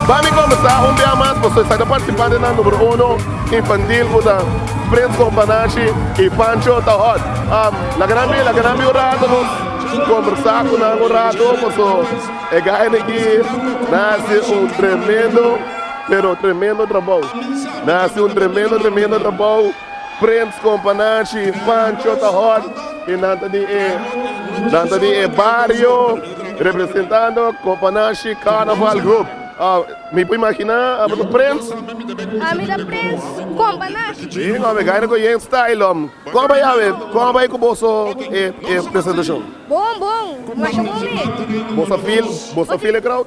Ba mi comensá un bia mas pasobra esaki ta participa den nan numero uno infantil cu ta Prince con Panache y Pancho ta hot. Am laga nan bi laga nan bi un rato no conversa cu nan un rato pasobra e guy nan aquí nan a haci un tremendo pero tremendo trabao nan a haci un tremendo tremendo trabao. Prins kompa nashi, Pancho ta hot y nan ta di e nan ta di e bario representando kompa nashi carnaval group. Oh, mi por imagina abo ta Prins? A mi ta Prins kompa nashi. Bien ome gaina ku yen style lom. Kon bai awe, kon bai ku boso e e presentashon? Bon bon, masha bon mi. Boso feel, boso feel e crowd?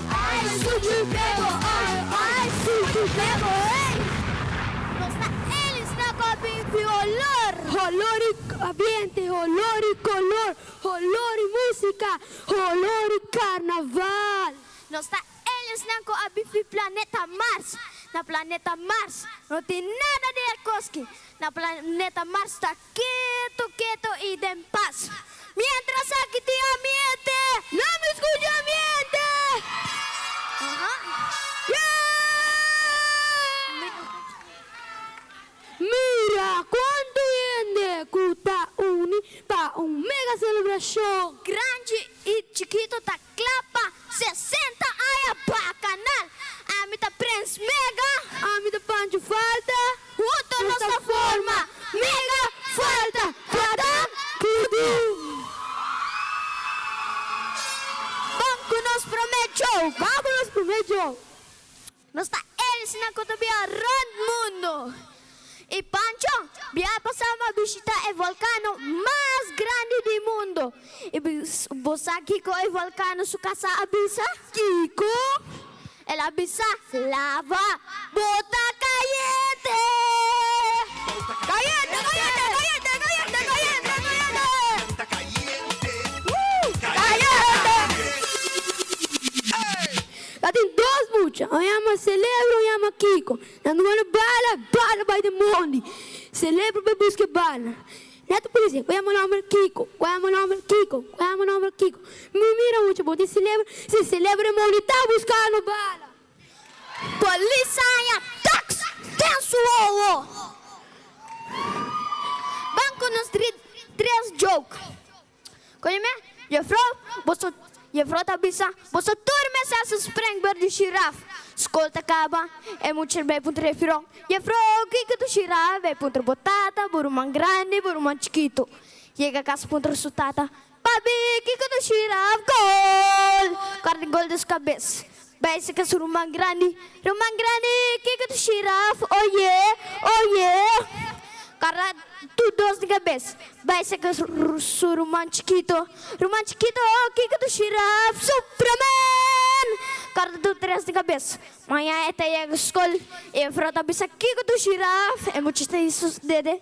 Ai suchi bebo ai, ai suchi bebo ei. Nos ta enlista pa bin cu holor. Holor y ambiente, holor y color, holor y musica, holor y carnaval. Nos ta aliensnan cu a bifi planeta Mars. Na planeta Mars no tin nada di e cos ki na planeta Mars ta. Keto, keto i den pas. Mientras aki tin amiente. No mi skucha amiente. Mira kuantu hende ku ta uni pa un mega selebrashon. Granchi i chikitu ta Klapa sesenta aña Bakanal. Ami ta Prens Mega. Ami ta Pancho Falta. Hunto nos ta forma Mega Falta. Kadam Tudum. Bam ku nos promé djou. Bam ku nos promé djou. Nos ta elis nan ku ta bia rònt mundu. I Pancho bia pa sa pa bishitá e volkano mas grandi di mundu. I bo sa kiko e volkano su kasá a bisa? Kiko? El a bisa, Lava bota kayente! Kayente, kayente, kayente, kayente, kayente, kayente! Kayente! Ta tin dos mucha, un yama Celebra, un yama Kiko. Nan dua na bala, bala bai den mondi. Celebra bai buska e bala. Neto policia, cu yama nomber Kiko, cu yama nomber Kiko, cu yama nomber Kiko. Mi mira mucha, bo tin Celebra? Si, Celebra den mondi ta buscando bala. Polis a haña tax den su hoho. Banco nos dri tres joke. Koñome, Jefrou, boso, Jefrou ta bisa, boso tur mester hasi spreng ber di shiraf. Skol ta kaba, e mucha bai puntra Jefrou, Jefrou, kiko ta shiraf? Bai puntra bo tata, bo ruman grandi, bo ruman chikitu. Yega kas puntra su tata, Pabi, kiko ta shiraf? Gol! Kòrta gol des kabes. Bai saka su ruman grandi. Ruman grandi, kiko ta shiraf? Oye, oye! Kara tur dos di kabes bai saka su ruman chikito. Ruman chikito, kiko ta shiraf? Supraman! Kara tur tres di kabes. Maña e ta yega skol. E mefrou ta bisa, kiko ta shiraf? E muchas ta hisa su dede.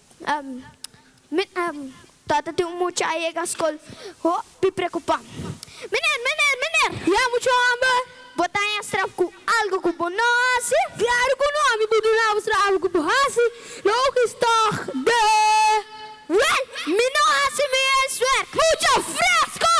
Tata tin un mucha a yega skol hopi preokupá. Miner, miner, miner, ya muchu homber, bo ta haña straf ku algu ku bo no hasi? Klaru ku no, mi bo duna bo straf ku bo hasi, lo hopi stòg de wèl, mi no hasi mi huiswerk. Mucha fresko!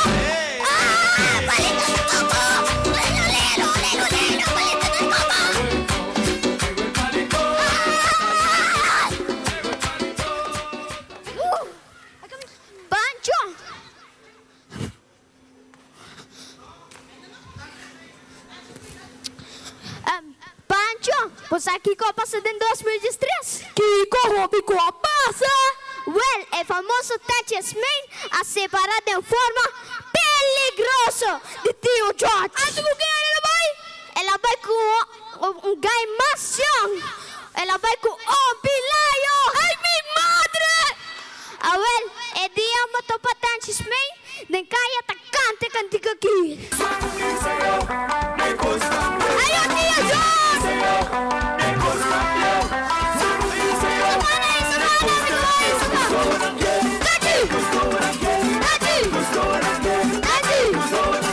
Pancho, bo sa kiko a pasa den dos mil diestres? Kiko hopi ku a pasa? Wèl, e famoso Tachis Main a separá den forma peligroso di Tio George. Anto ku ke el a bai? El a bai ku un Un gai mas cion. El a bai cu obi layo. Ay mi madre! Awel, e dia un motor patenches mey den calle a ta canta e cantica aqui.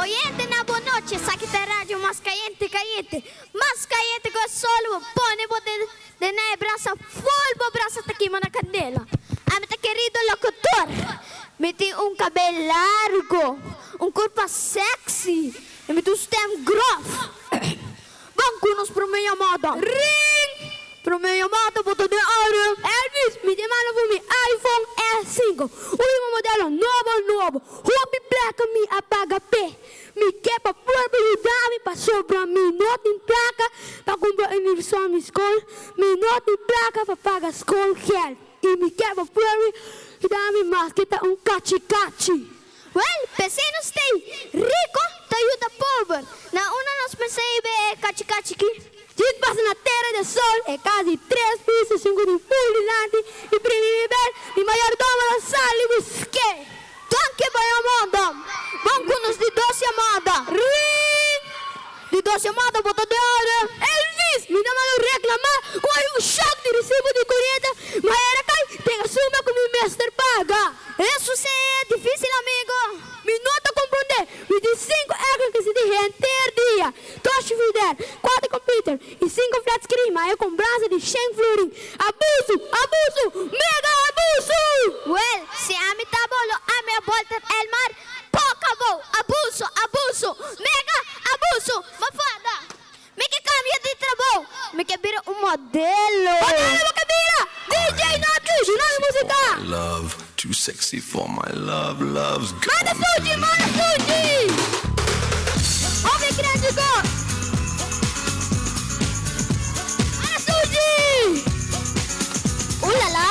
Oyente na bo noche esaki ta e radio mas cayente cayente mas cayente cu e sol bo pone bo den na e brasa full bo brasa ta kima na candela ami ta kerido locutor mi tin un cabel largo un curpa sexy y mi ta un stem grof. Ban cu nos prome yamada. Ring! Prome yamada bo ta den aire. Elvis, mi ta manda for mi iPhone e cinco. Ui un modelo nobo nobo. Hopi placa mi a paga p'e. Mi ke pa por bo yuda mi pasobra mi no tin placa pa cumpra universal mi school. Mi no tin placa pa paga school geld. Y mi ke pa por bo yuda mi mas ke ta un cachi cachi. Wel, p'esei nos t'ei riko ta yuda pober. Na unda nos mester ei be e kachi kachi ki? Jud pasa na Tera di Sol e kas di tres piso, sinku di mul dilanti, i primi nivel di mayordomo lo sal i busk'é. Donke, bo e amó, dom. Bon ku nos di dos e amó a da. Rin! Di dos chamada bo ta den orde? Elvis, Mi no malo reclama. Coge un shock di recibo di corriente, ma era kay den asuma cu mi mester paga. Eso si e dificil amigo. Mi no ta comprende. Mi tin cinco electricity di henter dia, dos frigider, cuater computer y cinco flat screen, ma e compranza di cien florin. Abuso! Abuso! Mega abuso! Well, si ami ta bo lo ami a bolter el mar Poca bo, abuso, abuso, mega abuso, ma fada, mi ke cambia di trabou, mi ke bira un modelo. Modelo bo ke bira, DJ no a tushi no mi musica. Love, too sexy for my love, love's gone. Manda fuji, manda fuji, oh mi crazy god. Manda fuji, ooh la la.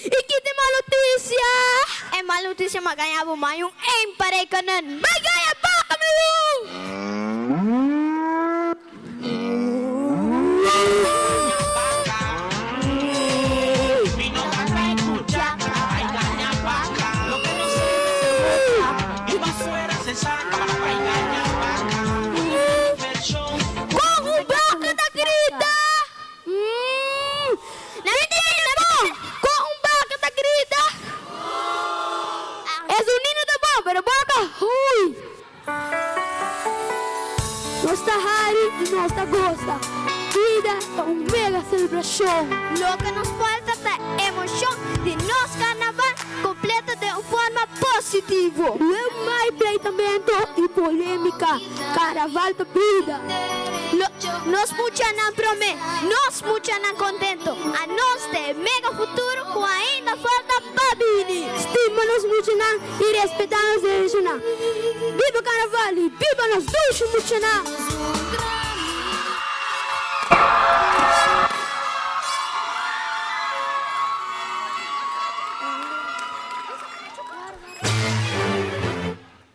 I kit e mal notisia? E mal notisia m'a gaña bo mai un eim pa rekenen. M'a gaña baka mi hu. Kon un baka ta grita? Mmm! Na mi timenta bon! Kon un baka ta grita? Moo! Esun nino ta bon, pero boka, hui! Nos ta hari i nos ta gosa. Bida ta un mega selebrashon. Loke nos falta ta emoshon di nos karnaval kompleto den un forma positivo. Luego mai pleitamento i polemika. Karaval ta buda. Lo, nos muchanan promé, nos muchanan kontento. Anos ta e mega futuro ku ainda falta pa bini. Stima nos muchanan i respetá nos dereshonan. Biba Karaval i biba nos dushi muchanan!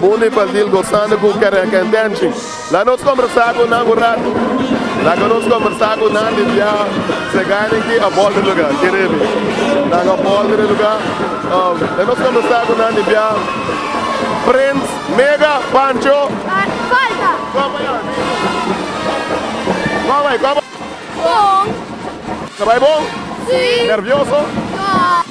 Boni Brazil gozando cu Karen Kentenchi. La nos combersa cu nan un rato. Laga nos combersa cu nan di bia seganen ki a bolta e lugar. Ki rebi. Nan a bolta den lugar. La nos combersa cu nan di bia Prince, Mega, Pancho. Coba ya, Mega. Coba, coba. Bon. Ta bay bon? Si. Nervioso? No.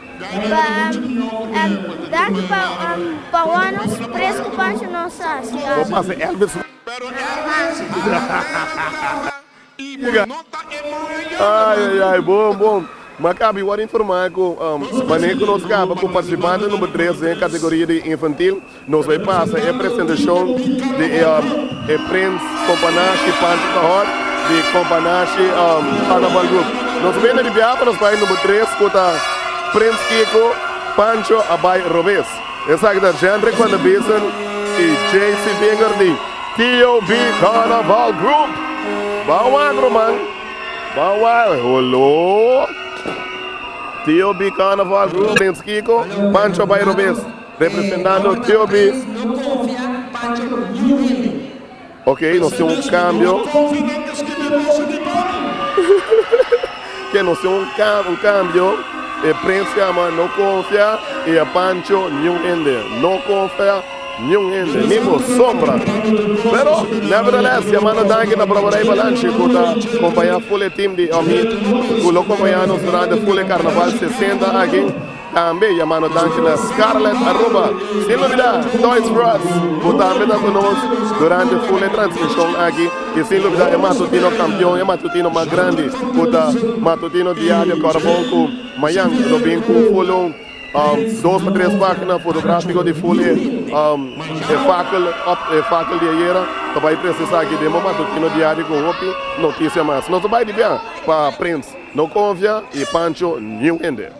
pa dance pa pa wou nos tres cu pancho no sa si Bo aso. pasa Elvis man. Pero Elvis a regresa y bo no ta e man a yanda man. Ay ay ay bon bon. Ma Kaby word informa cu mane cu nos caba cu participante number tres den categoria di infantil. Nos bay pasa e presentacion di e Prins Compa Nashi Panchi ta Hot di Compa Nashi Carnaval Group. Nos mena di biaha pa nos bay number tres cu ta Prins Kiko, Pancho a bay robes. Esaki ta Jendrik van der Biesen y JC Vinger di TOB Carnaval Group. Ba wagro man, ba wagro. Holo! TOB Carnaval Group, Prins Kiko, Pancho a bay robes. Representando Tiobi. No confia Pancho New Willy. Ok nos tin un cambio. No confia nan ta escribi cosa di Tony. Ke nos tin un cambio e prensa yama no confia y a Pancho New Hende. No confia New Hende ni por sombra. Pero nevertheless yama no danki na broba rey Balanchi cu ta compaña full e team di Omid cu lo compaña nos durante full e carnaval 60 aki. Tambe yama nos danshi na Scarlett Aruba. Sin lubida Toys R Us ku tambe ta ku nos durante ful e transmishon aki i sin lubida e matutino kampion, e matutino mas grandi ku ta Matutino Diario Kòrbou ku mayan lo bin ku ful un dos a tres página fotográfiko di ful e e fakel òf e fakel di ayera ta bai presisá aki den bo matutino diario ku hopi notisia mas. Nos ta bai di biaha pa Prince, no konfia i Pancho niu hende.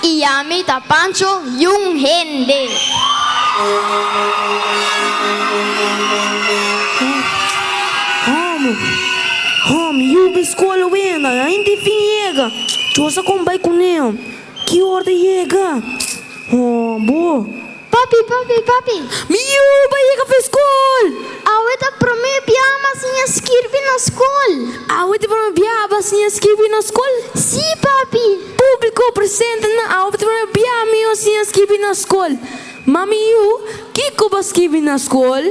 I yami ta Pancho Jun Hende. Home, home, yubi skola wenda, a hende fin yega. Chosa kon bai kuné, home. Ki or ta yega? Home, bo. Papi, papi, papi! Mi yu bai yega pa e skol! Awe ta prome bia mas siña skirbi na skol! Awe ta prome bia ba siña skirbi na skol? Sí, papi! Públiko, Presente nan, awe ta prome bia mi a siña skirbi na skol! Ma mi yu, kiko ba skirbi na skol?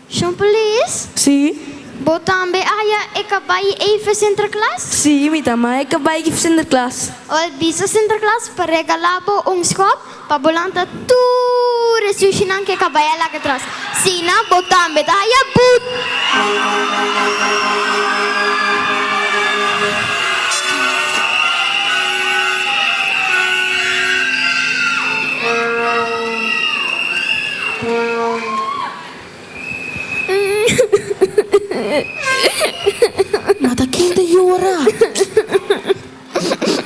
Shon Polis? Sí. Bo tambe a haya e kabai ei for Sinterklaas? Sí, mi tambe a haya e kabai ei for Sinterklaas. Bo a bisa Sinterklaas pa regala bo un schop pa bo lanta tur e sushinan ku e kabai a laga tras. Asina bo tambe ta haya boet. Mata kin ta yora?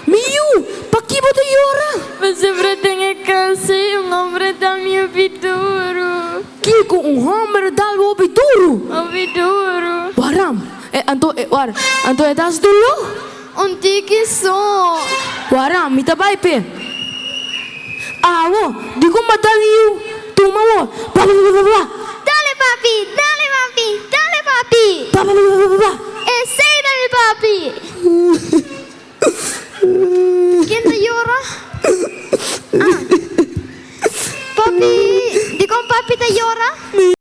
Mi yu, paki bo ta yora? Mi siempre tin e casa y un hombre da mi hopi duro. Kiko un homber da bo hopi duro? Hopi duro. Waram, e anto, e war, anto e das dolo? Un tiki su. Waran mi ta bai p'e. Awo, di kon ba ta riu tuma wo, bababababa. Dale papi, dale mami, dale papi. Bababababa. Esei ta mi papi. Ken ta yora? Ah. Papi, di kon papi ta yora?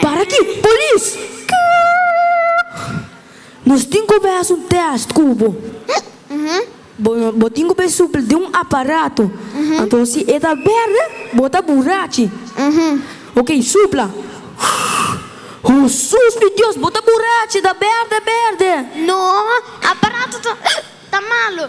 Para aki, polis! Nos tin ku bai haci un test ku bo. Bo bo tin ku bai supli den un aparato. Anto si e ta berde, bo ta burachi. Ok, supla. Husus mi Dios, bo ta burachi, ta berde berde! No, aparato ta malo.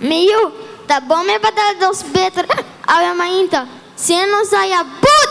Mi yu, ta bon mi batal dos beter awe mainta, si e no sa ya but!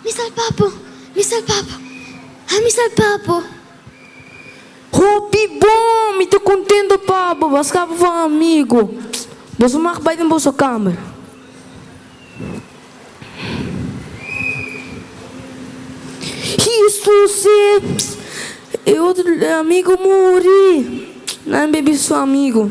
Mi salpa po, mi salpa po, ha mi salpa po. Hopi bon, mi ta contento pa bo, bo a scapa for amigo. Boso mag bay den boso kamer. Jesus e, e otro amigo muri, nan baby su amigo.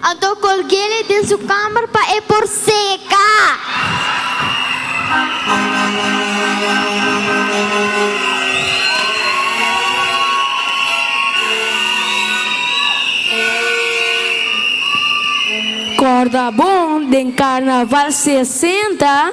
Anto colgele den su kamer pa e por seka. Corda bon den carnaval sesenta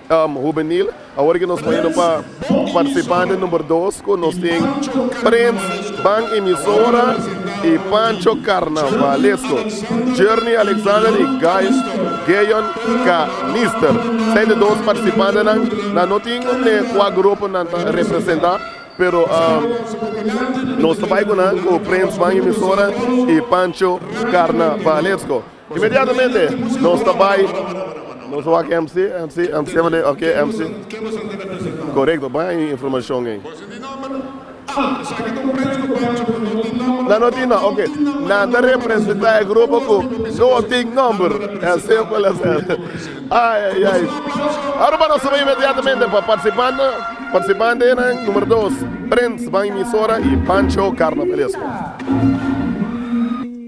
Hubenil, awor ke nos moeda pa partisipante number dos ku nos tin Prins Ban Emisora i Pancho Karnavalesko, Journey Alexander i Guy Geyon Kanister. Seis di nos partisipantenan nan no tin unde kua grupo nan ta representa pero nos ta bai ku nan ku Prins Ban Emisora i Pancho Karnavalesko. Inmediatamente nos ta bay, nos a wak MC, MC, MC a mende, ok MC, corecto, bay e informacion ey. Nan no tin nom, ok, nan ta representa e grupo cu no tin nomber, as simpel as that, ay ay ay. Aruba nos a bay inmediatamente pa participante, participantenan, numero dos, Prince, bay emisora y Pancho Carnavalesco.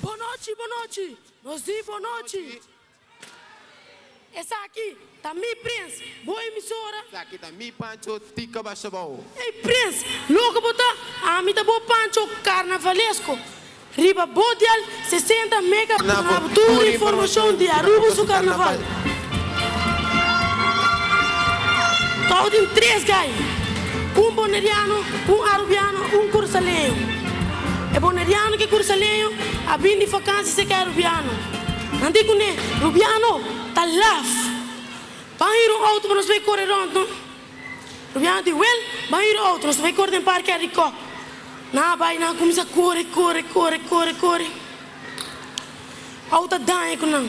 Bonochi, bonochi, nos di bonochi. Esaki ta mi prins, bo emisora. Esaki ta mi Pancho, tika basha bao. Ey prins, loke bo ta? Ami ta bo Pancho Carnavalesko. Riba bo dial sesenta mega na bo tur informacion di Aruba su carnaval. Tou tin tres gai, un boneriano, un arubiano, un kursaleño. E boneriano ku e kursaleño a bin di fakansi serka e rubiano. Nan di kuné, Rubiano, ta laf. Ban hira un outo pa nos bai kore rònt no. Rubiano di, Wèl, ban hira un outo, nos ta bai kore den parkear di kòp. Nan a bai, nan a kuminsá kore, kore, kore, kore, kore. Outo a daña ku nan.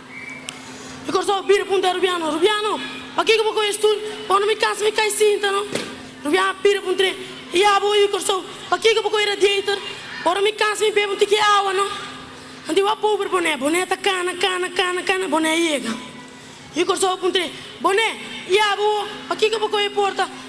E Kòrsou bira punta Rubiano, Rubiano, pakiko bo koi e stul? Ora mi kansa mi kai sinta no. Rubiano a bira puntre, E ya bo oí Kòrsou, pakiko bo koi e radiator? Ora mi kansa mi bebe un tiki awa no. Anto bo a pober Bonè, Bonè ta kana, kana, kana, kana, Bonè a yega. Oí Kòrsou a puntre, Bonè, ya bo pakiko bo koi e porta?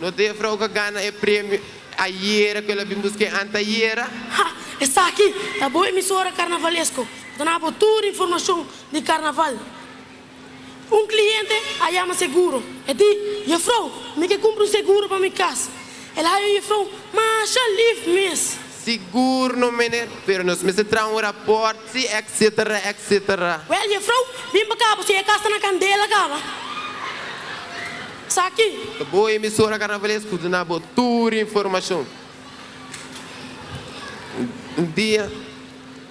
No Defra oca gana e premio ayera cu el a bin busc'e antayera. Ha! Esaki ta bo emisora carnavalesco. Dona bo tur informacion di carnaval. Un cliente a yama seguro. E di, Jefrouw, mi ke cumpra un seguro pa mi cas. El haya un jefrouw masha lif mes. Sigur no mene, pero nos mester traha un raport si etsetera etsetera. Well Jefrou, bin pa cabo si e cas ta na candela caba. Saki. Ta bo emisora carnavales cu duna bo tur informacion. Un dia.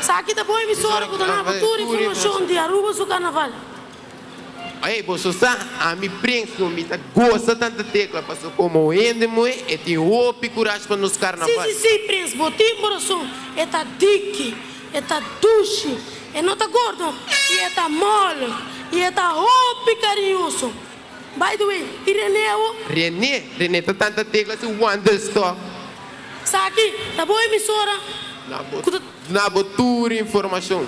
Esaki ta bon emisora cu ta naba tur informacion di Aruba su carnaval. Ey, bo so sa, ami prengs no, mi ta gosa tanta Tecla, pasobra como hende moe, e tin hopi curaj pa nos carnaval. Si, si, si, prengs, bo tin bo rason, e ta diki, e ta dushi, e no ta gordo, y e ta mole, y e ta hopi cariñoso. By the way, y Rene awo? Rene? Rene ta tanta tegla si Wandelstok. Sa aki ta bo emisora cu ta. Na bo tur informacion.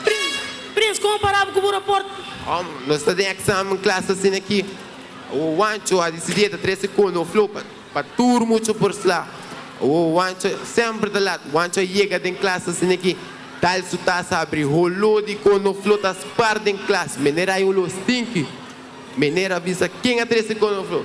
Prins, Prins, como parabo cu bo rapport? Homn, nos ta den examen class asina aki. Awo Wancho a dicidi e ta trece cono of lopen. Pa tur mucho por sla. Owo Wancho semper ta lat. Wancho a yega den klas ta siña ki tal su tasa a bri. Holó di konofló ta spar den klas. Meneer hay oló stinki. Meneer a bisa ken a trese konofló.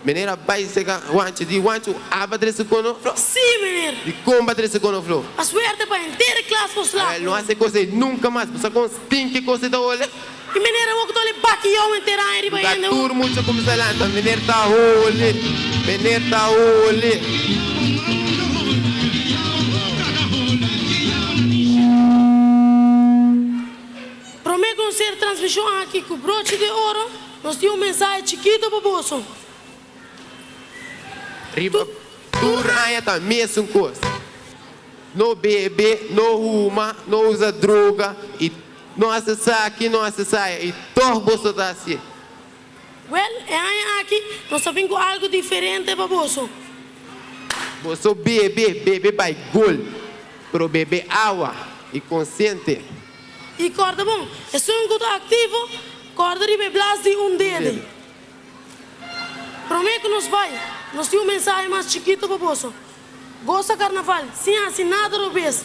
Meneer a bai sega Wancho. Di Wancho, Aba a trese konofló? Sí, meneer. Di kon ba trese konofló? Pa suerte pa henter klas por sla. Awel, no hase kos ei nunka mas. Bo sa kon stinki e kos ei ta ole? E manera wou ku ta ole baki you en tera aña riba hende wou. Tur mucha a kuminsá lanta, Meneer Tahooli, meneer Tahooli. Promé konser transmishon aki ku brochi de oro, nos tin un mensahe chikito pa boso. Riba tur aña ta mesun kos, no bebe, no huma, no usa droga i. No hasi esaki, no hasi esaya, i tog boso ta hasié. Wèl, e aña aki nos ta bin ku algu diferente pa boso. Boso bebe, bebe bai gol, pero bebe awa i konsiente. I kòrda bon, esun ku ta aktivo, kòrda riba e blas di un dede. Promé ku nos bai, nos tin un mensahe mas chikitu pa boso. Gosa Karnaval sin hasi nada robes.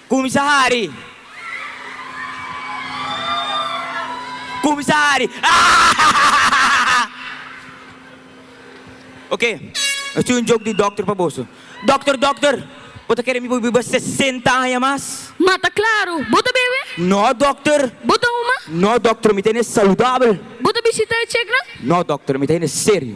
Kumsa hari! Kumsa hari! Ahahahahaha! Oke, nos tin un jok di dokter pa boso. Dokter, dokter! Bo ta kere mi por biba sesenta aña mas? Ma ta klaru! Bo ta bebe? No, dokter! Bo ta huma? No, dokter, mi ta hende saludabel! Bo ta bishita e cheknan? No, dokter, mi ta hende serio!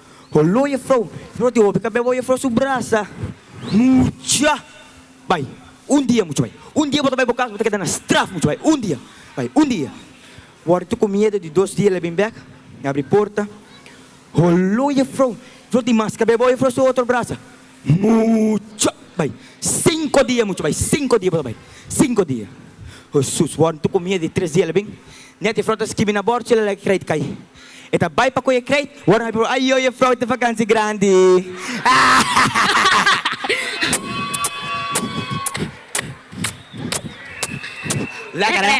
Holo e frou, frou di hopi kabel bo e frou su brasa mucha bai un dia mucha bai un dia bo ta bai bo kas bo ta keda na straf mucha bai un dia bai un dia wòrdu tu ku miedu di dos dia el a bin bèk abri porta holo e frou, frou di mas kabel bo e frou su otro brasa. Mucho bay cinco dia mucho bay cinco dia bay cinco dia Hesus wor ntu kumia di tres dia la bin net e frou ta skibi na bord chila la e kreit kai e ta bay pa koy e kreit wor nan pipia ayoy e frou ta vakansi grandi Lekker hè.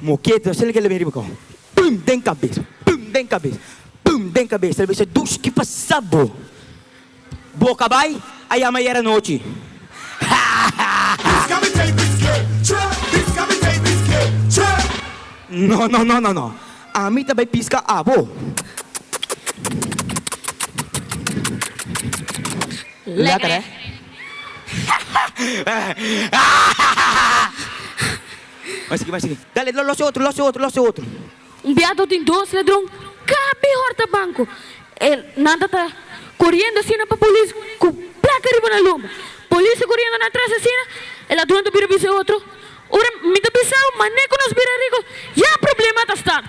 Moket nos tin ke lebe riba kon pum den kabes pum den kabes pum den kabes tal bes e dush ki pasa bo boka bai a yama yera nochi no no no no no ami ta bai piska abo lekker he Dale, lo los e otro, los e otro, los e otro. Un biaha do tin dos ladron ka mihor ta banco. E nan ta ta coriendo asina pa polis cu placa riba nan lomba. Polis ta coriendo nan atras asina, e ladron ta bira bisa e otro, Ora mi ta bisao mane cu nos bira rico, ya problema ta start.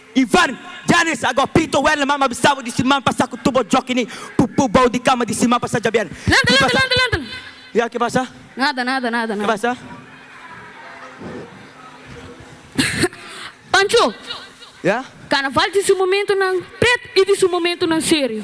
Ivan, Janis, Agó, Pito, Werle, Mama bisabo di si man pasa ku tubo jokini pu pu bou di kama di si man pasa jabier. Lanta, lanta, lanta, lanta! Ya, ke pasa? Nada, nada, nada, nada. Ke pasa? Pancho, Ya? Karnaval tin su momentunan pret i tin su momentunan serio.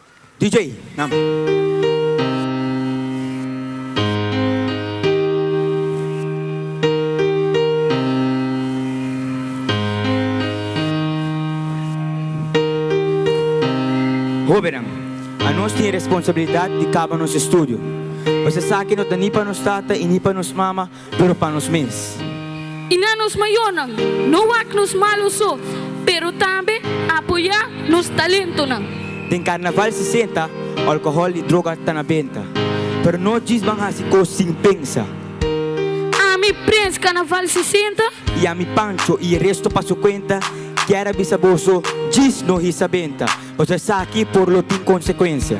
DJ, nam. Hobennan, anos tin e responsabilidat di kaba nos estudio. Pas esaki no ta ni pa nos tata i ni pa nos mama. pero pa nos mes. I na nos mayornan, no wak nos malo so, pero tambe apoyá nos talentonan. Den Carnaval sesenta alcohol i droga ta na benta, pero no djis ban haci cos sin pensa. Ami Prince Carnaval sesenta. I ami Pancho i e resto pa su cuenta kier a bisa boso djis no hisa benta, pasobra esaki por lo tin consecuencia.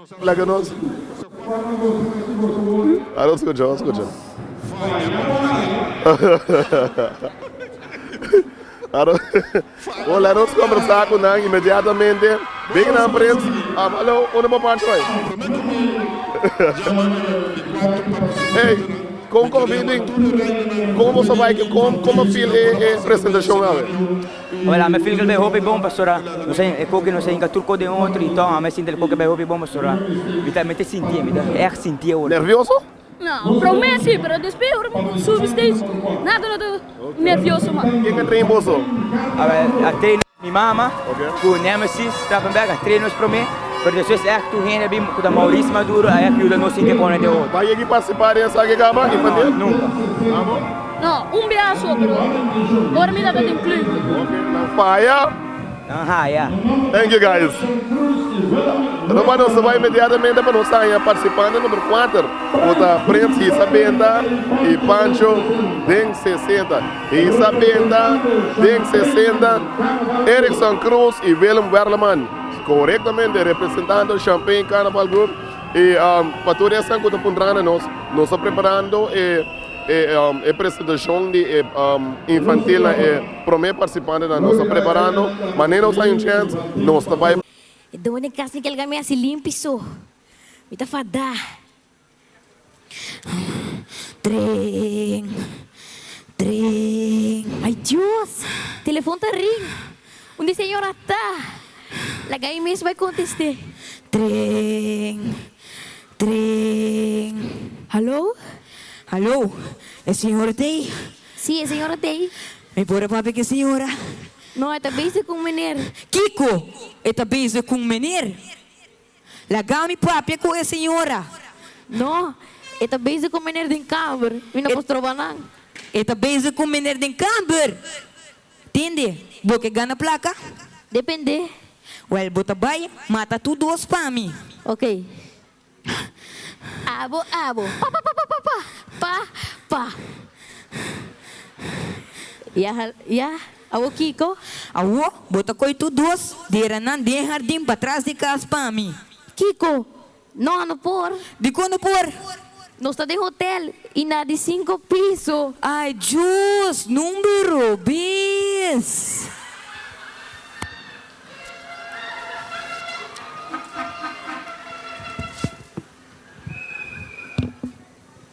Laga nos kombersá ku nan inmediatamente. Big nan prins. Alo, unda bo parke bai? Ey, kon kon Vinding? Kon bo ta bai? Kon kon bo feel e presentashon awe? Wèl, ame feel ku el bai hopi bon, pastora. Nos a e koke, nos a hinka tur kos den otro, i tò, ame sinti el koke bai hopi bon, pastora. Mi ta, mi ta sintié, mi ta ègt sintié ora. Nervioso? No, promé sí, pero despues ora mi bon subi stage, nada no ta nervioso mas. Ken a train boso? A train mi mama ku Nemesis Strafenberg a train nos promé, pero despues ègt tur hende a bin, ku ta Maurice Maduro, a ègt yuda nos sinti bon den otro. Bo a yega i partisipá den Saque Cama infantil? No, nunka. Amo? No, un biaha so, bro. Ora mi tabatin clute. Ok, nan faya. Nan haya. Thank you guys. Roba nos ta bai inmediatamente pa nos haña participante number kuater cu ta Prince Hisa Benta y Pancho den sesenta. Hisa Benta den sesenta, Erickson Cruz y Willem Werleman, corectamente representando Champagne Carnaval Group. Y pa tur esnan cu ta puntrando nos, nos ta preparando e. E presentacion di e infantil na e prome participantenan nos ta preparando, manera nos ta anuncian, nos ta bay. E doma den cas tin ke alga mi hasi limpi so. Mi ta fada. Tring, tring. Ay Dios! Telefon ta ring. Un di señor a ta. Laga ay mes bay conteste. Tring, Tren. Hallo? Hallo, e señora ta ei? Sí, e señora ta ei. Mi por a papia cu e señora? No, e ta bezig cu un meneer. Kico? E ta bezig cu un meneer? Laga mi papia cu e señora. No, e ta bezig cu un meneer den kamer. Mi no por stroba nan. E ta bezig cu un meneer den kamer? Tin di bo ke gana plaka? Depende. Wèl, bo ta bai mata tur dos pa mi. Ok. Abo, abo. Pa, pa, pa, pa, pa, pa, pa, pa. Ya, ya. Awo kiko? Awo bo ta koi tur dos deranan den hardin patras di kas pa mi. Kiko? No, no por. Dikon no por? Nos ta den hotel y na di cinco piso. Ay Dios, numero, bes.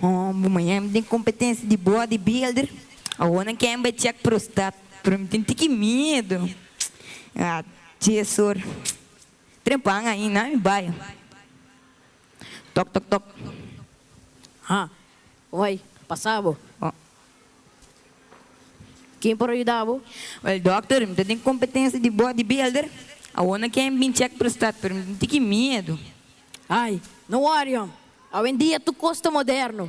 Bo maña mi tin kompetensia di bodybuilder, awor nan kèn bai chèk prostat, pero mi tin tiki miedu. A Chesor, trempan ainda mi bai. Tok tok tok. Ha, oi, pasa bo. Ken por a yuda bo? Wel dòkter, mi ta tin kompetensia di bodybuilder, awor nan kèn bin chèk prostat, pero mi tin tiki miedu. Ai, no wòri hòm. Awendia tur kos ta moderno.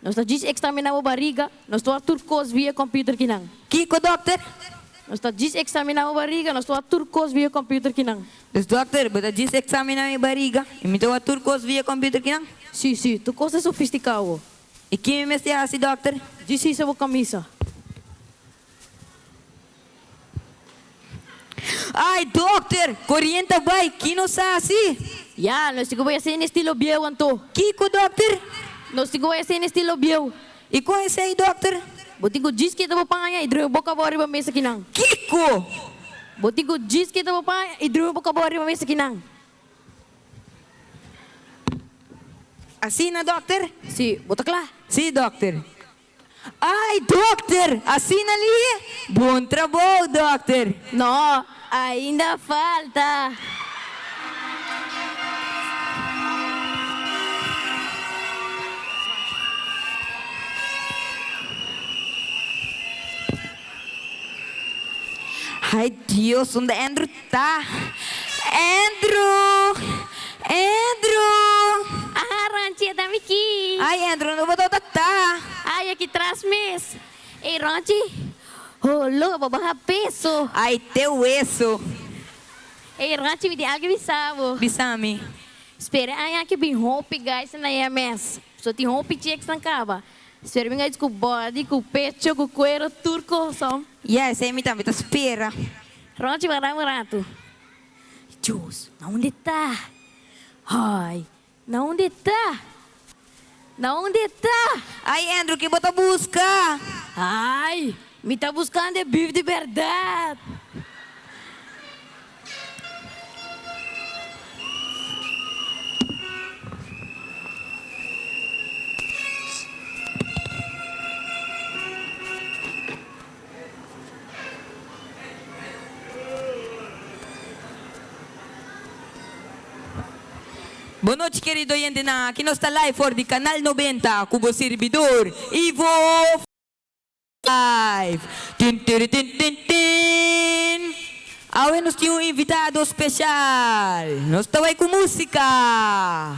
Nos ta djis ekstraminá bo bariga, nos ta wak tur kos via kòmpiuter kinan. Kiko, dòkter? Nos ta djis ekstraminá bo bariga, nos ta wak tur kos via kòmpiuter kinan. Dus, dòkter, bo ta djis ekstraminá mi bariga i mi ta wak tur kos via kòmpiuter kinan? Sí, sí, tur kos ta sofistiká bo. I ki mi mester hasi, dòkter? Djis hisa bo kamisa. Ay dokter, koriente a bai, ki nos a hasi? Ya, nos tin ku bai a hasi na estilo bieu anto. Kiko dokter? Nos tin ku bai a hasi na estilo bieu. I kon esei dokter? Bo tin ku djis keta bo paña i drui bo kabó riba mes akinan. Kiko? Bo tin ku djis keta bo paña i drui bo kabó riba mes akinan. Asina dokter? Si, bo ta kla? Si dokter. Ai dokter, asina li? Bon trabou dokter. No, ainda falta. Ai Dios, unda Andrew Ta, Andrew! Andrew! Aha, Ronchi, ta mi ki. Ay, Andrew, unda bo ta ota ta? Ay, aki tras mes. Ey, Ronchi, ho loco, bo baha peso. Ay, te hueso. Ey, Ronchi, mi tin algo bisa bo. Bisa mi. Spera, aña aki bin hopi guys na e mes. So tin hopi chicks nan caba. Spera bin guys cu body, cu pecho, cu cuero, tur coson. Ya, esey mi tambe ta spera. Rochi wak dam un ratu. Jus, na unde ta? Ay, na unde ta? Na unde ta? Ay Andrew, ki bo ta buska? Ay, mi ta buskando e bif di berdad. Bonochi kerido oyentenan, aki nos ta live for di Canal Noventa ku bo sirbidor Ivo Flive. Tin tiri tin tin tin. Awe nos tin un invitado special. Nos ta wai ku musika.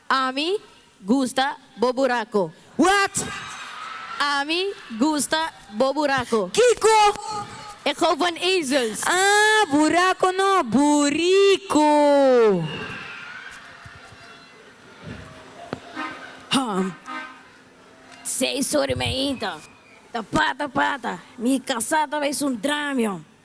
Ami gusta bo buraco. What? Ami gusta bo buraco. Kico? E gou van ezels. Ah, buraco no, burico. Ham. Say sorry mi ainta. Ta pata pata. Mi casa ta ba esun dramio.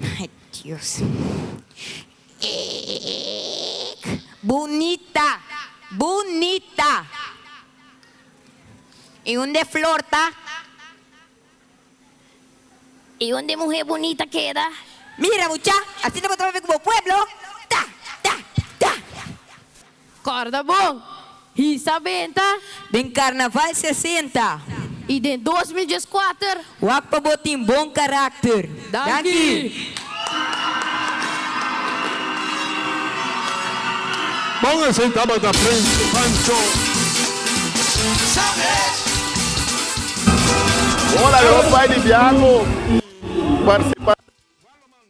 Ay Dios eek bunita bunita y un de flor ta y un de muhe bunita keda. Mira mucha, asina bo ta papia ku bo pueblo ta ta ta. Kòrda bon! Hisa benta! Den Karnaval sesenta. I den dos mil djes kuater. Wak pa bo tin bon karakter. Danki! Bon esei tabata Prins Pancho. Bon a loke bai di biaha cu participante.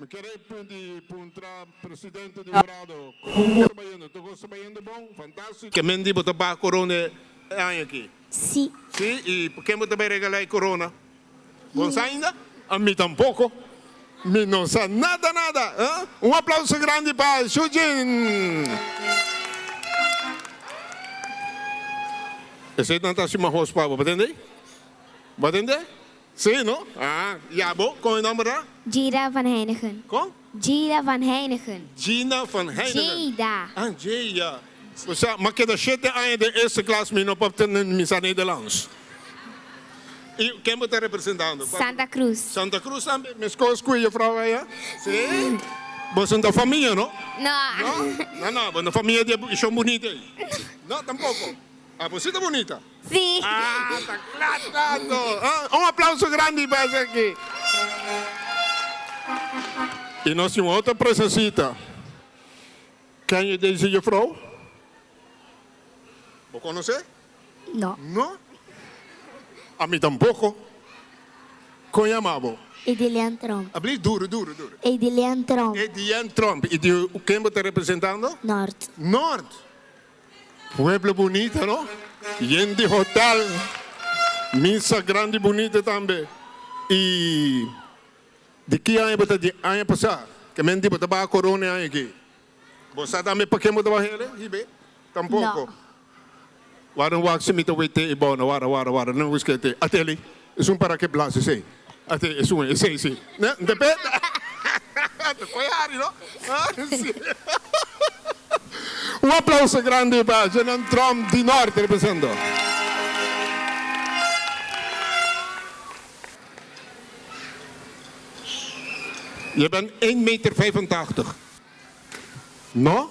Mi kere punti puntra presidente di Dorado kon bo ta bayendo? Tur kos ta bayendo bon? Fantástiko. Ke men di bo ta baha korona e aña aki? Sí. Sí? I pa ken bo ta bai regalá e korona? Bo no sa ainda? Ami tampoko. Mi no sa nada nada. Un aplauso grandi pa Shujin! Eseinan ta hasi mahos pa bo, bo tende? Bo a tende? Sí, no? Aa. Ya bo, con e nomber ta? Jada van Heijnigen. Con? Jada van Heijnigen. Jina van Heijnigen. Jada. Ah, Jay, ya. O sea, m'a keda shete aña den eerste klas mi no por tende mi sa Nederlands. Y ken bo ta representando? Santa Cruz. Santa Cruz tambe, mescos cu e juffrouw aya? Sí? Boso no ta famia, no? No. No? No, no, bo no famia di e Shon Bunita ey. No, tampoco. Ah, bo si ta bunita? Sí. Ah, ta cla tanto. Oh, un aplauso grandi pa esaki. Y nos tin un otro presacita. Ken es Daisy Juffrouw? Bo conoce? No. No? A mi tampoco. Con yama bo? Edilian Tromp. Habli duro, duro, duro. Edilian Tromp. Edilian Tromp. Y di ken bo ta representando? Nort. Nort. Pueblo bunita no, yen di hotel, misa grandi bunita tambe y di ki aña bo ta di aña pasa ke menti bo ta baha corona e aña aki bo sa tambe pake bo ta baha hel e hibe tampoco wara wak si mi ta wete e bona wara wara wara no busque te ateli. Esun para ke blas esei. Ate esun esei si. Nte pe Ante koe hari no. Un aplauso grandi pa Jenan Tromp di Norte represento. Je ben één meter vijfentachtig. No?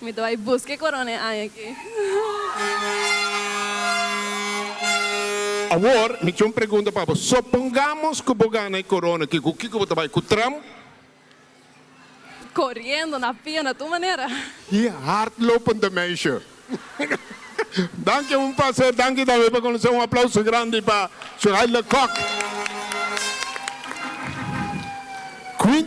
Mi ta bai buska e corona e aña aki. Awor, mi tin un pregunta pa bo. Sopongamos cu bo gana e corona aki, cu kico bo ta bai? Cu tram? Coriendo, na pia, na tur manera. Di hardlopen ta meisje. Danki un placer, danki tambe pa conoce. Un aplauso grandi pa Suhail de Kok. Quin.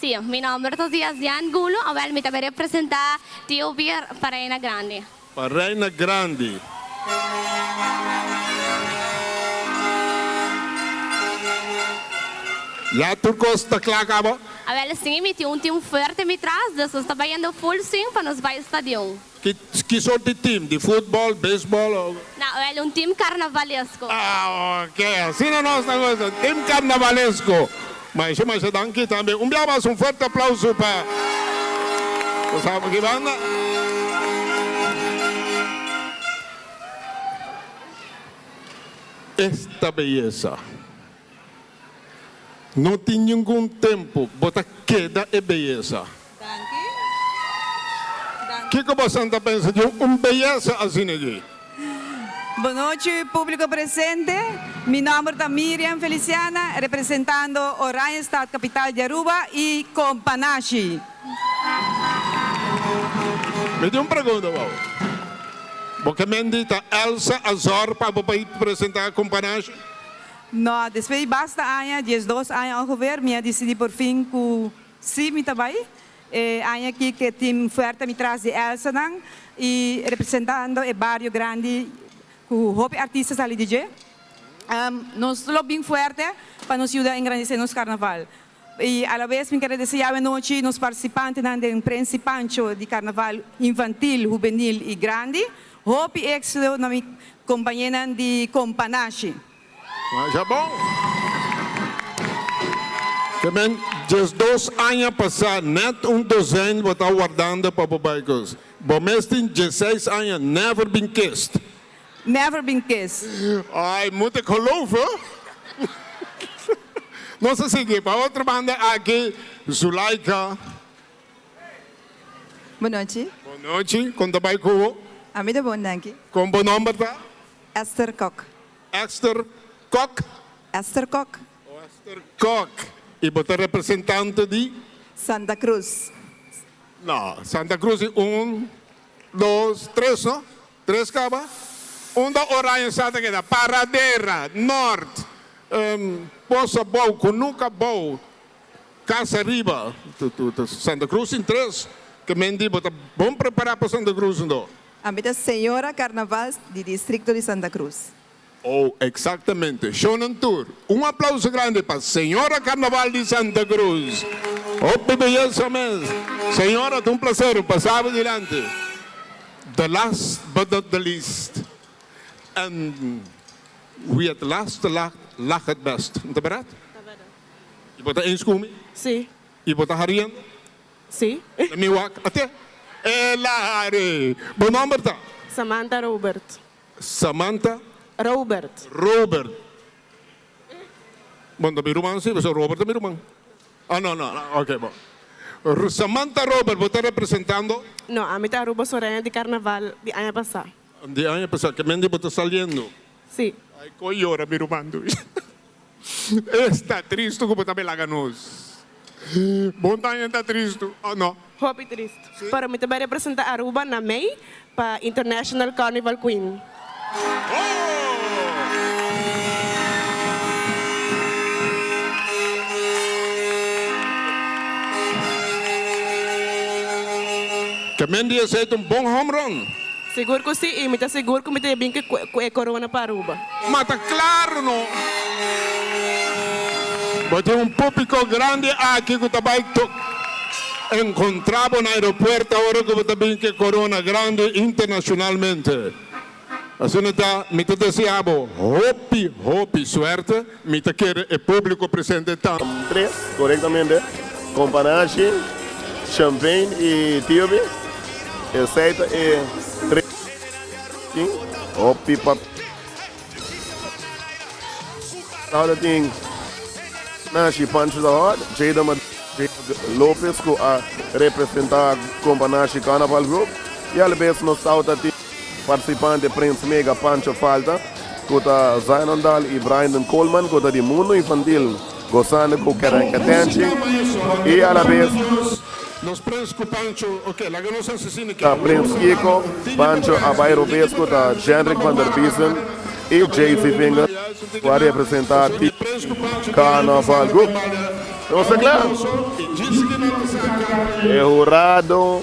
Sí, mi nomber ta Zia Zia Angulo, awel mi ta bay representa TOB pa Reina Grandi. Pa Reina Grandi. Ya tur cos ta cla ca bo. Awel sing y mi tin un team fuerte mi tras, dus nos ta bayando full swing pa nos bay stadion. Kison tin team? Di futbol, beisbol o. Na oel un team karnavalesko. Ah ok, asina nos ta gosa, un team karnavalesko. Masha masha danki tambe. Un bia mas un fuerte aplauso pa nos amo aki banda. Esta beyesa. No tin ningun tempu bo ta keda e beyesa. Kiko bo san ta pensa di un beyesa asina dje? Bonochi publico presente, mi nomber ta Miriam Feliciana representando Oranjestad capital di Aruba y compa nashi. Mi tin un pregunta pa bo. Bo ke mendita Elsa Azor pa bo bai presenta compa nashi? No, despues di basta aña, diesdos aña ongeveer, mi a disidí porfin ku sí mi ta bai. E aña akí ke tin fuerte mi tras di Elsanan i representando e bario grandi ku hopi artista sali di dje. Nos lo bin fuerte pa nos yuda engrandisé nos karnaval. I alabes mi kere desea awe nochi nos participantenan den Prensipancho di Carnaval Infantil, Hubenil i Grandi. Hopi exito na mi compañenan di Compa Nashi. Masha bon! Temen diesdos aña pasá nèt un dozen bo ta wardando pa bo bai cos. Bo mes tin dieseis aña never bin kist. Never been kissed. Ay munt e kolof oh. Nos a sigui pa otro banda aki Zulaika. Bon nochi. Bon nochi, kon ta bai ku bo? A mi ta bon danki. Kon bo nomber ta? Esther Kok. Esther Kok? Esther Kok. Oh Esther Kok. Y bo ta representante di? Santa Cruz. No, Santa Cruz i un, dos, tres no? Tres kaba, unda Oranje sa ta keda, Paradera, Nort, Bosa Bou, Kunuka Bou, Kasa Riba, Santa Krus tin tres, ke men di bo ta bon prepará pa Santa Krus ndo. Ami ta Señora Carnavals di Distrikto di Santa Krus. Oh, exactamente. Shonan tur, un aplauso grandi pa Señora Carnaval di Santa Cruz. Hopi beyesa mes. Señora, ta un placer pasa bo dilanti. The last but not the least. And wie het laatst te lacht, lacht het best. No ta berat? Ta berat. Y bo ta eens cu mi? Sí. Y bo ta hariendo? Sí. Na mi wak, a te? Elare! Bo nomber ta? Samantha Robert. Samantha. Robert. Robert. Bon ta mi ruman si, pasobra Robert ta mi ruman. Oh no no, ok bo. Samantha Robert, bo ta representando? No, ami ta Aruba Soraya di Carnaval di aña pasa. Di aña pasa, kimen di bo ta saliendo? Si. Ay con yora mi ruman tu. Esta tristu ku bo ta be laga nos. Bon taña ta tristu o no? Hopi tristu. Pero mi ta be representa Aruba na May pa International Carnival Queen. Ke men di esei ta un bon home run? Sigur ku si, i mi ta sigur ku mi ta bin ku e korona pa Aruba. Ma ta claro no. Bo tin un púpico grandi aki cu ta bay tok encontra bo na aeropuerto ahora cu bo ta bin cu e corona grandi internacionalmente. Asina ta mi ta desea bo hopi hopi suerte. Mi ta kere e publico presente ta. Tres, corectamente, companashi, champagne y tiopi, esey ta e tres tin, hopi papia Sauda tin, Nashi, Pancho ta hot, Jada Madrid, Jada Lopez cu a representa Companashi Carnaval Group y alabes nos Sauda tin. Participante Prins Mega Pancho Falta cu ta Zion Dahl y Braynden Coleman cu ta di mundo infantil gozando cu Cat and Catanchi y a la vez ta Prins Kiko, Pancho Abay Robes cu ta Jendrik van der Biesen y Jaycee Vinger cu a representa T. Carnaval Group. Nos ta cla. E hurado.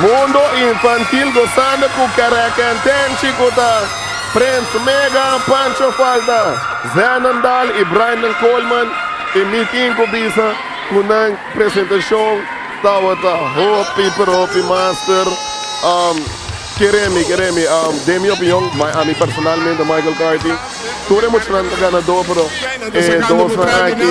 Mundo Infantil gozando cu Kerekentenchi cu ta Prince Mega, Pancho Falta, Zenon Dahl y Brandon Coleman y mi tin cu bisa cu nan presentacion tabata hopi pero hopi master. Um, kere mi, kere mi, um, den mi opinion, my, a mi personalmente Michael Carthy, tur e muchanan ta ganador pero e dosnan aki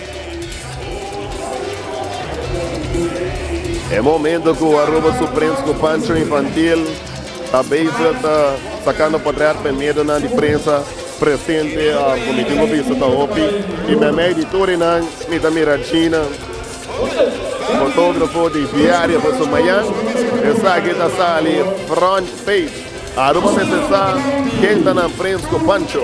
E momento cu Aruba su prins cu Pancho Infantil ta bezig ta sacando patriar p'e medonan di prensa presente um cu mi tin bo bisa ta hopi y me mei di tur enan mi ta mira Gina fotografo di diario pa su mayan esaki ta sali front page Aruba mester sa ken ta nan prins cu Pancho.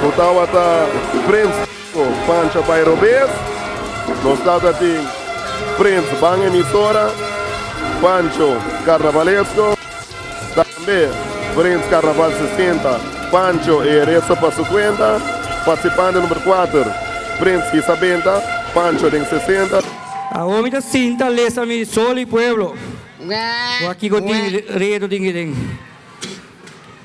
Cu tawata Prins Chico Pancha Bay Robes. Nos ta ta tin Prins Ban Emisora Pancho Carnavalesco. Tambe Prins Carnaval 60 Pancho e resto pa su cuenta. Participante number 4 Prins Isabenta Pancho den 60. Awor mi ta sinta lesa mi solo y pueblo. Wak kico tin reto tin kico tin.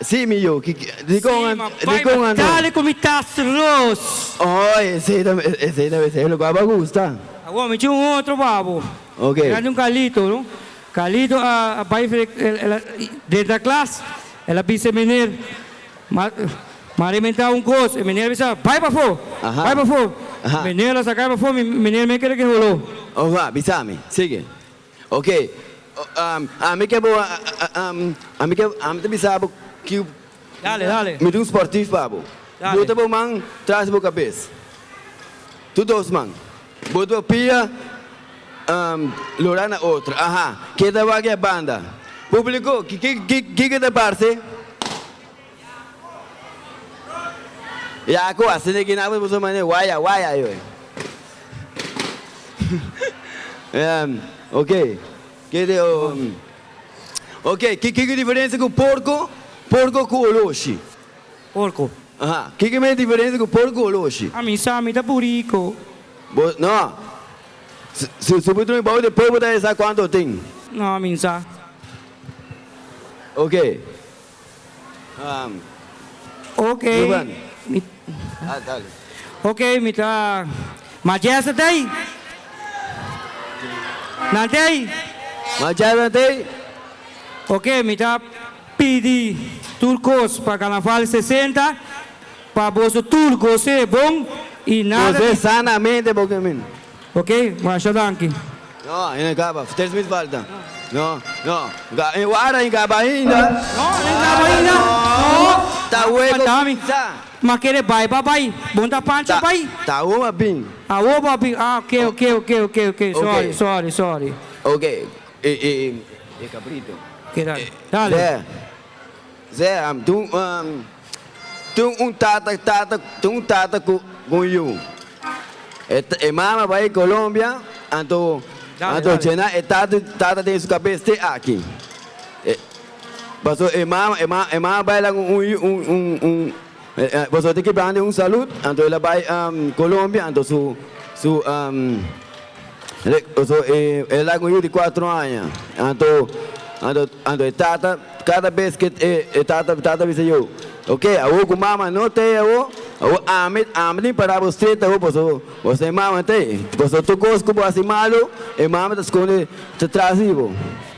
Sí, mi yu. Di kon a no? Tal e ku mi ta selos. Oh, esei ta mester e lugá bo a gusta. Awor mi tin un otro pa bo. Oke. Nan tin Carlito, no? Carlito a bai denter a klas, el a bisa e meneer, M'a rementá un kos. E meneer a bisa, Bai pafó, bai pafó. E meneer lo a saká el pafó, mi meneer mester keda ke holó. Oga, bisa mi. Sigui. Ok, ami ke bo, ami ke, ami ta bisa bo ki, Dale, dale. mi tin un sportief pa bo. Dale. Bota bo man tras di bo kabes, tur dos man, bota bo pia lora na otro, aha, ke ta wak e banda? Publico, ki, ki, ki, kiko ta parse? Yaco, asina ki napo di boso mane waya waya yo e. Oke, ke te oke, kiko ku diferensia ku porko, porko ku oloshi? Porko. Aha, kiko mes diferensia ku porko ku oloshi? A mi sa mi ta puriko. Bo no, su su patrun bou de por bo ta e sa kuanto tin. No, a mi sa. Oke. Okay, mi okay mi ta majester tey. Nan tey? Majester tey. Okay mi ta pidi tur cos pa Carnaval sesenta pa boso tur gozé bon y nada di. Gozé sanamente bo caminda. Ok, masha danki. No, e no caba. Vertel smith falta. No, no. E wara e caba ainda. No, e no caba ainda. No. Ta hueco pizza. Ma kere bai pa bai. Bon ta pancha bai. Ta awo pa bin. Awo pa bin. Ah ok, ok, ok, ok, ok. Sorry, sorry, sorry. Ok, e cabrito. Keda. Dale. Ze, Tin un tata ku un yu. E mama bai Colombia, anto djena e tata den su kabes te aki. Paso e mama bai la un. Boso tin ki plan di un salud, anto el a bai Colombia, anto su su boso el a laga un yu di cuatro aña, anto anto anto e tata cada bes ke e tata e tata bisa yo, ok awo ku mama no tei awo, awo ami ami tin para bo stret awo boso boso tin mama tei, boso tur kos ku bo hasi malo e mama ta skonde ta tras di bo.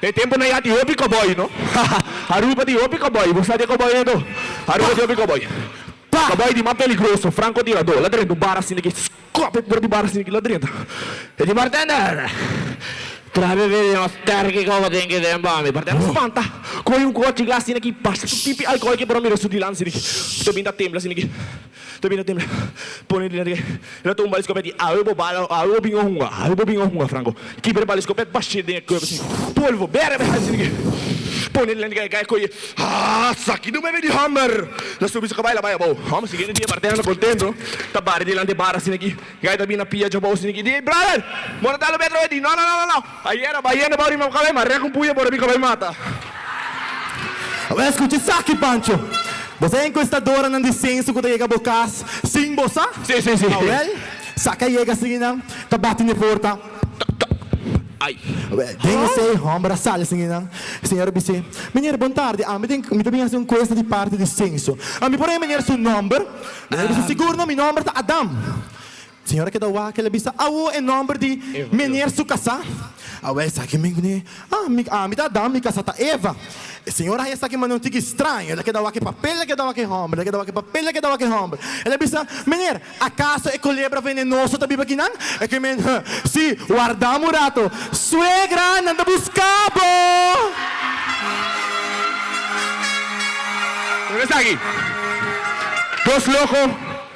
E tempo na ya tin hopi cowboy no haha Aruba tin hopi cowboy bo sa di e cowboy e do Aruba tin hopi cowboy pa cowboy tin mas peligroso franco tirador la drenta un bar asina ki scop e por di bar asina ki la drenta e di bartender trae bebe di nos terki coco tin ki den pa mi bartender spanta coge un cochi glas asina ki pasa su pipi alcohol ki por a mira su dilan asina ki ta bin ta tembla asina ki. Ta bira temp pone di nante lo tumba e skopet i awe bo bala awe bo bin a hunga awe bo bin a hunga franco kiber bala e skopet bash'e den e cuerpo si polvo bera bera a sinigi pone di nante kai koye haa saki no bebe di homer lo subi so kabai lo bai abao homer siguiente dia parten anda contento ta bari dilanti e bar a sinigi kai ta bina pia djabao sinigi di Brian bo ta lo be atrawe di no no no no no. Ayera bayendo bo rima bo kabay ma rek un puño por a mi kabay mata. Abo a escucha esaki, Pancho. Bo sa e encuestadoranan di censo cu ta yega bo cas sin bo sa? Sí, sí, sí. Awel, sa ca yega sin enan ta bati n'e porta. Toc, toc. Ay. Awel, den esey, homber a sali sin enan. E señor a bis'é, Meñer, bon tardi. Ami tin, mi ta bini haci un encuesta di parti di censo. Ami por a e meñer su nomber? Meñer a bis'é, Sigur no, mi nomber ta Adam. Señora keda wak, el a bisa, Awo e nomber di meneer su kasá? Awo esaki men kuné, Ah, mi, ami ta Adan, mi kasá ta Eva. E señor haña esaki mane un tiki straño, el a keda wak e papel, el a keda wak e homber, el a keda wak e papel, el a keda wak e homber. El a bisa, Meneer, akaso e kulebra venenoso ta biba aki nan? E ke men, Huh, sí, warda un rato. Suegra, nan ta buska bo! Mira esaki, dos loko.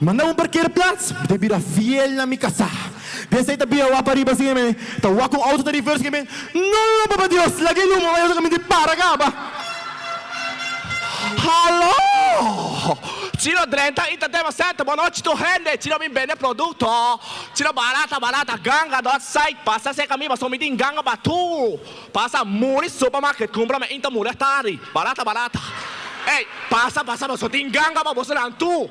Manda un parkera plats, mi ta bira fiel na mi kasá. Des ei ta bia wak pariba sin e men ta wak un outo ta reverse sin e men, No, Papa Dios, laga e luma pa ayuda caminti para caba. Haló! Ci no drenta ita dema sèt bo no chito hende ci no bin bende produkto ci no barata barata ganga dòt sait pasa seka mi paso mi tin ganga pa tu pasa muri supermarket kumpra mi inta muri a tari barata barata ei pasa pasa paso tin ganga pa bosonan tu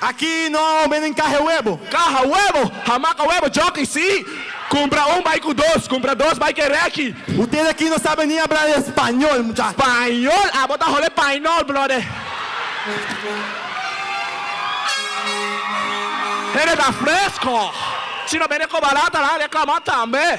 Aki no a omen den caha huebo. Caha huebo! Hamaca huebo jockey si! Cumpra un bai cu dos, cumpra dos bai cu e reki. U te daki no sabe ni abra e spañol mucha. Pañol? Abo ta hole painol brother. Hende ta fresco. Si no bende cobala ta nan reclama tambe.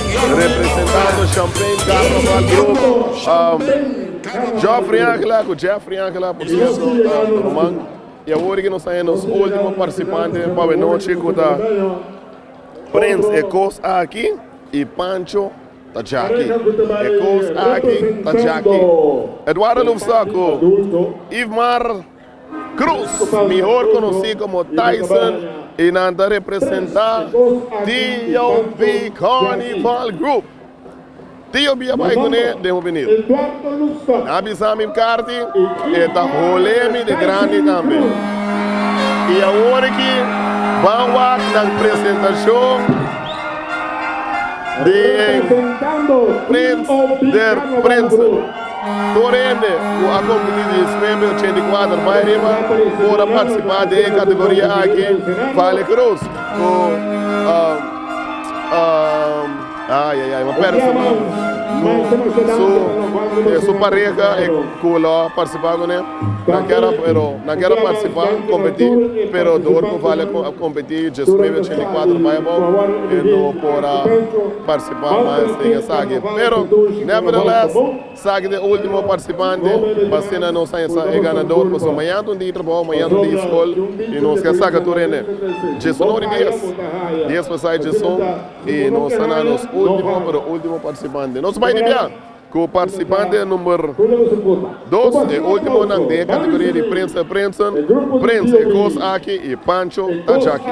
Representando Champaign Carnaval Grupo Geoffrey Angela cu Jeffrey Angela por cierto ruman y awor nos ta nos ultimo participante pa we noche cu ta Prince e cos aki y Pancho ta Jackie e cos aki ta Jackie Eduardo Lubsa cu Ivmar Cruz, mihor conocí como Tyson, y nan ta representa TOB Carnival Group. TOB a bay cune den hopi niu. Nan a bisa mi Carti e ta hole mi de grandi tambe. Y awor aki ban wak nan presentacion di Prince der Prinsen. Tur hende cu a cumpli diesnuebe ochenta i cuater bai riba por a participa den e categoria aki, Vale Cruz cu su pareha cu lo a participa cu ne nan kier a pero nan kier a participa competi pero dor cu Vale a competi diesnuebe ochenta i cuater bai abao e no por a participa. Bamba a enseña esaki. Pero, nevertheless, esaki ta e ultimo participante pa asina nos a hesa e ganador, pasobra mañana ta un dia trabou, mañana ta un dia scol y nos ke saca tur hende. Djison ora y dies, dies pasai djison y nos a na nos ultimo, pero ultimo participante. Nos a bai di bia! Ku partisipantenan number dos, e últimonan den e kategoria di prensa prensen, Prens e kos aki i Pancho ta djaki.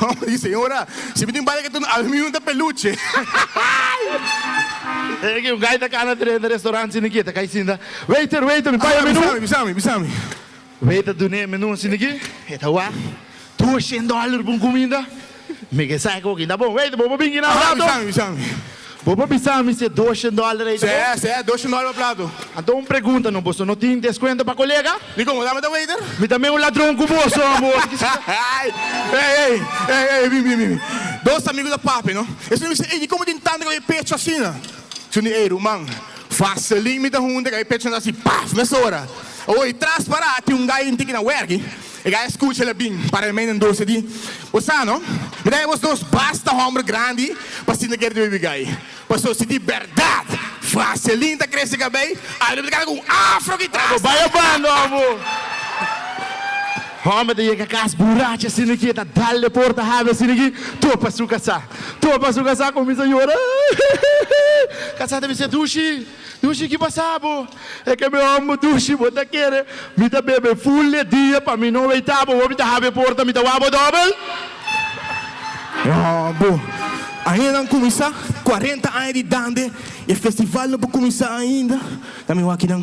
Homber di, Señora, si mi tin bale katuno, ami mismo ta peluche. Ey aki un guy ta cana tre na restaurant sin aki, e ta cay sinta, Waiter, waiter, mi paya menu. Bisami, bisami, bisami. Waiter dune e menu sin aki, e ta wak, Doshen dollar pa un cuminda? Mi ke sa e coki, ta bon, waiter, bo por bin gina un rato. Bisami, bisami. Bo por bisa mi se doshon dollar ei ta bo? Seh, seh, doshon dollar pa plato. Anto un pregunta no, boso no tin deskuento pa kolega? Di komo ta mi ta waiter? Mi ta men un ladron ku boso amo, boso kish ta. Hey, hey, hey, hey, hey, bin, bin, bin, dos amigu ta papia no, esnan mi sey, ey, di komo tin tanta kaba e pecho asina? Su ni, ey, ruman, vaseline mi ta hunde kaba e pechonan ta haci paf, mesora. Oy, tras para tin un guy inti ki na werki, E gaya skucha el a bin para e mei den dos i a di, Bo sa no, mi ta ebos dos basta hòmber grandi pa sinta kere di baby gay. Paso, si di bèrdat Vaseline ta krese kabei, algu ta kaba ku un afro aki tras. Abo baya bando abo! Hòmber ta yega kas buracha asina ki e ta dal den porta habi asina ki tur pasu kasá. Tur pasu kasá kuminsa yora, Kasá ta bisa, Dushi! Dushi ki pasa bo? E ke mi ombo dushi bo ta kere? Mi ta bebe ful de dia pa mi no weita bo, bo mi ta habi e porta mi ta wak bo dobel? No bo ainda nan kuminsa cuarenta aña di dande e festival no por kuminsa ainda ta mi wak kinan.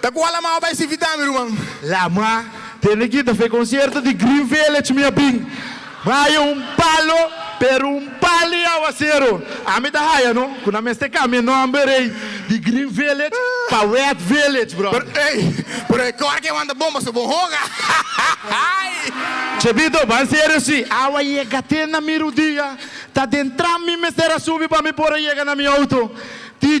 Ta cu a la mao bay sivita mi ruman. La ma tene guita fe concierto di green village mi a bin haya un palo pero un palo y aguacero a mi ta haya no cu na mester cambia nomber ey di green village pa wet village brother. Pero ey pero e cor que wanta bomba so bon hoga hay. Chebito ban serio si awa yega te na mi rudia ta den tram mi mester a subi pa mi por a yega na mi auto ti.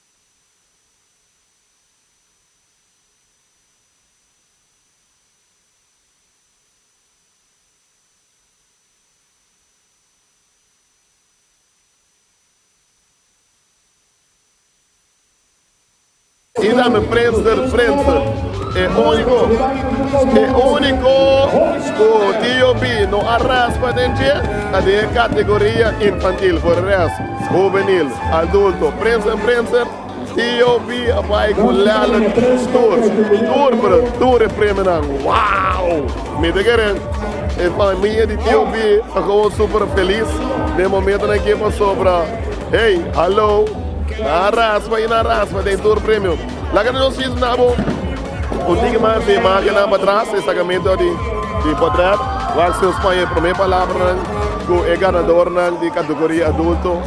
I na mi frens der frens, e úniko, e úniko ku Tio B no a raspa den dje ta den e kategoria infantil, for de rest, huvenil. Adulto, prensa, prensa, TOB a bai ku lèlè tur, tur pero tur e premionan, wow! Mi ta kere e famia di TOB ta kob'on super felis den momentonan aki e pasó pero hey, hallo, nan a raspa i nan a raspa den tur premio. Laga nos a sinti nan bo un tiki mas di imagennan patras, e sakamento di potret, wak si nos pone e promé palabranan ku e ganadornan di kategoria adulto.